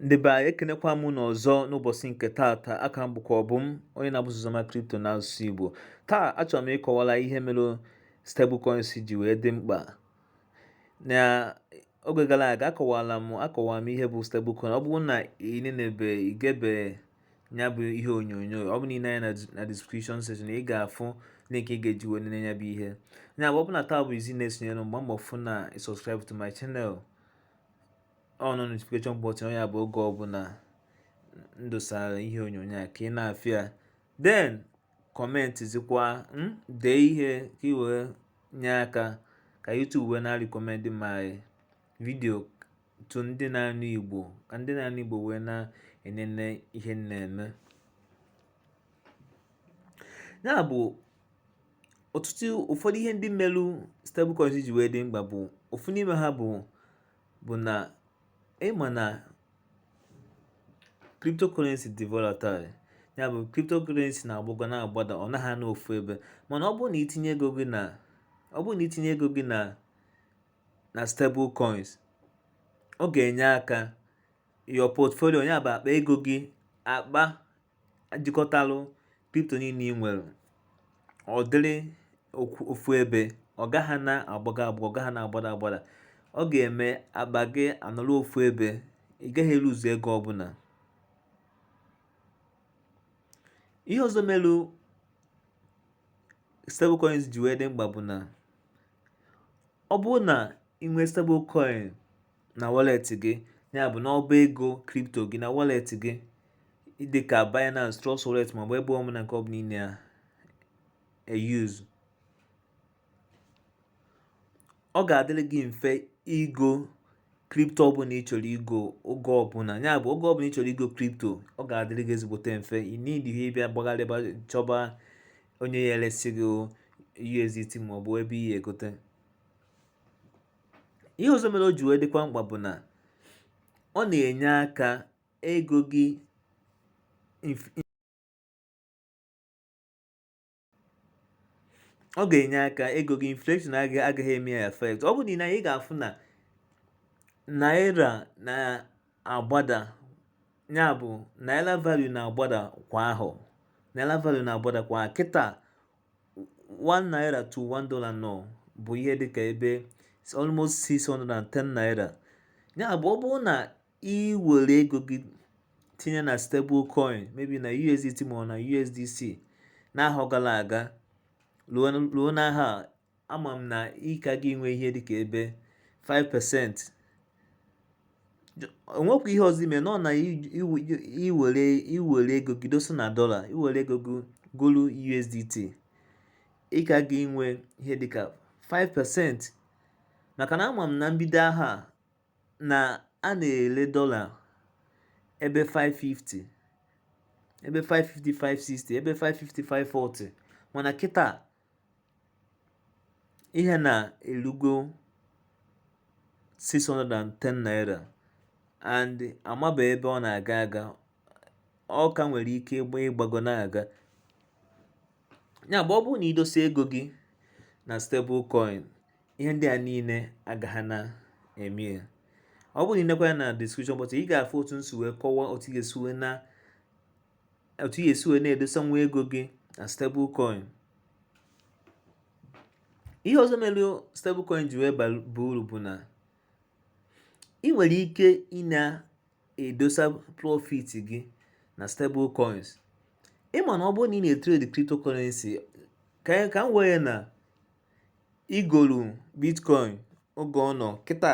ndị be anyị ekenekwa m unu ọzọ n'ụbọchị nke taata aka m bụkwa Obum onye na-abụ Uzoma kripto n'asụsụ Igbo taa achọrọ m ịkọwara ihe mere stablecoins ji wee dị mkpa na oge gara aga akọwala m akọwara m ihe bụ stablecoin ọ bụrụ na ị nenebe igebe ya bụ ihe onyonyo ọ bụ na i nee anya na description section ị ga-afụ link ị ga-eji wee nene ya bụ ihe ya bụ ọ bụ na taa bụ izizi ị na-esonyere m gba mbọ fụ na subscribe to my channel ọnọ notification button ya bụ oge ọbụla m dosara ihe onyonyo a ka ị na-afụ ya then kọmentịzikwa hmm, dee ihe ka ị wee nye aka ka YouTube wee na-arịkọmendị my video to ndị na-anụ Igbo ka ndị na-anụ Igbo wee na-enene ihe na-eme ya bụ ọtụtụ ụfọdụ ihe ndị melụ stable coins ji wee dị mkpa bụ ofu n'ime ha bụ bụ na ị ma na cryptocurrency dị volatile ya bụ cryptocurrency na-agbago na-agbada ọ naghị anọ ofu ebe mana ọ bụrụ na i tinye ego gị na na stable coins ọ ga-enye aka your portfolio ya bụ akpa ego gị akpa jikọtalụ kripto niile ị nwere ọ dịrị ofu ebe ọ gaghị na-agbago agbago ọ gaghị na-agbada agbada ọ ga-eme akpa gị anọrọ ofu ebe ị gaghị eluzu ego ọbụla ihe ọzọ melu stablecoins ji wee dị mkpa bụ na ọ bụrụ na ị nwee stablecoin na wallet gị ya bụ n'ọba ego kripto gị na wallet gị dịka Binance Trust Wallet maọbụ ebe ọbụla nke ọbụla ị na-eyuzu ọ ga-adịrị gị mfe igo kripto ọbụla ị chọrọ igo oge ọbụla ya bụ oge ọbụla ị chọrọ igo kripto ọ ga-adịrị gị ezigbote mfe ị nidighị ịbịa gbagharịba chọba onye ya-eresi gị USDT maọbụ ebe ị ya-egote ihe ọzọ mere o ji wee dịkwa mkpa bụ na ọ na-enye aka ego gị ọ ga-enye aka ego gị inflation agaghị agaghị eme ya effect ọ bụrụ na ị ga-afụ na naira na-agbada ya bụ naira value na-agbada kwa ahọ naira value na-agbada kwa kịta one naira to one dollar now bụ ihe dịka ebe almost 610 naira ya bụ ọ bụrụ na ị were ego gị tinye na stable coin maybe na USDT ma ọ na USDC n'ahọ gara aga ruo n'ahọ a ama m na ị ka ga-enwe ihe dịka ebe 5% onwekwa ihe ọzọ ime nọ na iwere iwere ego gị dosa na dollar iwere ego gị golu USDT ị ka ga-enwe ihe dịka 5% maka na ama m na mbido ahọ a na a na-ele dollar ebe 550 ebe 550 560 ebe 550 540 mana kịta ihe na elugo 610 naira and amaba ebe ọ na-aga aga ọ ka nwere ike ịgba ịgbago na-aga ya bụ ọ bụrụ na idosa ego gị na stable coin ihe ndị a niile agaghị na-eme ya ọ bụrụ na inekwa anya na description box ị ga-afụ otu m si wee kọwaa otu ị ga-esi wee na otu ị ya-esi wee na-edosanwu ego gị na stable coin ihe ọzọ mere stable coin ji wee baa uru bụ na ị nwere ike ị na-edosa profit gị na stable coins ịma na ọ bụrụ na ị na-etrade cryptocurrency ka ka m wee ya na igolu bitcoin oge ọ nọ kịta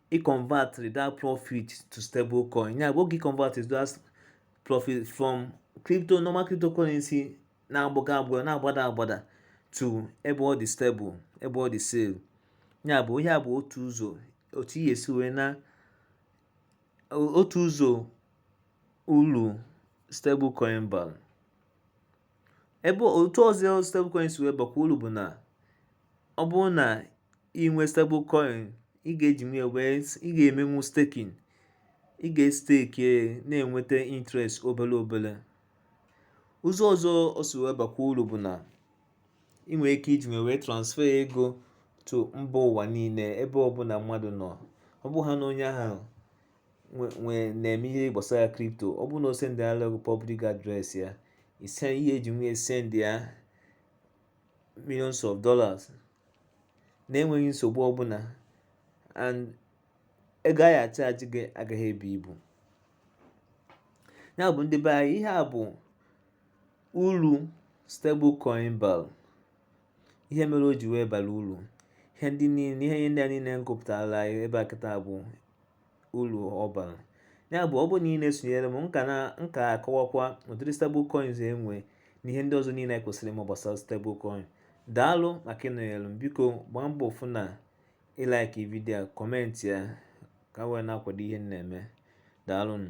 ị convert that profit to stable coin ya bụ oge ị convert that profit from crypto normal cryptocurrency na-agbago agbago na-agbada agbada to ebe ọ dị stable ebe ọ dị safe ya bụ ihe a bụ otu ụzọ otu ihe si wee na otu ụzọ uru stable coin bara ebe otu ọzọ stablecoin si wee bakwa uru bụ na ọ bụrụ na inwe stable coin ị ga-eji ya wee ị ga-emenwu staking ị ga-estake na-enweta interest obere obere ụzọ ọzọ o si wee bakwa uru bụ na ị nwere ike iji ya wee transfer ego to mba ụwa niile ebe ọbụla mmadụ nọ ọ bụ ha na onye ahụ na-eme ihe gbasara crypto ọ bụ na o sendịala public address ya ị ya-eji ya wee send ya millions of dollars na-enweghị nsogbu ọbụla and ego a ya-achaji gị agaghị ebu ibu ya bụ ndị be anyị ihe a bụ uru stable coin balu ihe mere o ji wee bara uru ihe ndị niile ihe ndị a niile m gụpụtara anyị ebe a kịta bụ uru ọ bara ya bụ ọ bụrụ na ị na-esonyere m m ka na m ka ga-akọwakwa ụdịrị stable coins e nwe na ihe ndị ọzọ niile anyị kwesịrị ịma gbasara stable coin daalụ maka ịnọnyere m biko gbaa mbọ fụ na ị like video a comment ya ka ị wee na-akwado ihe m na-eme daalụnụ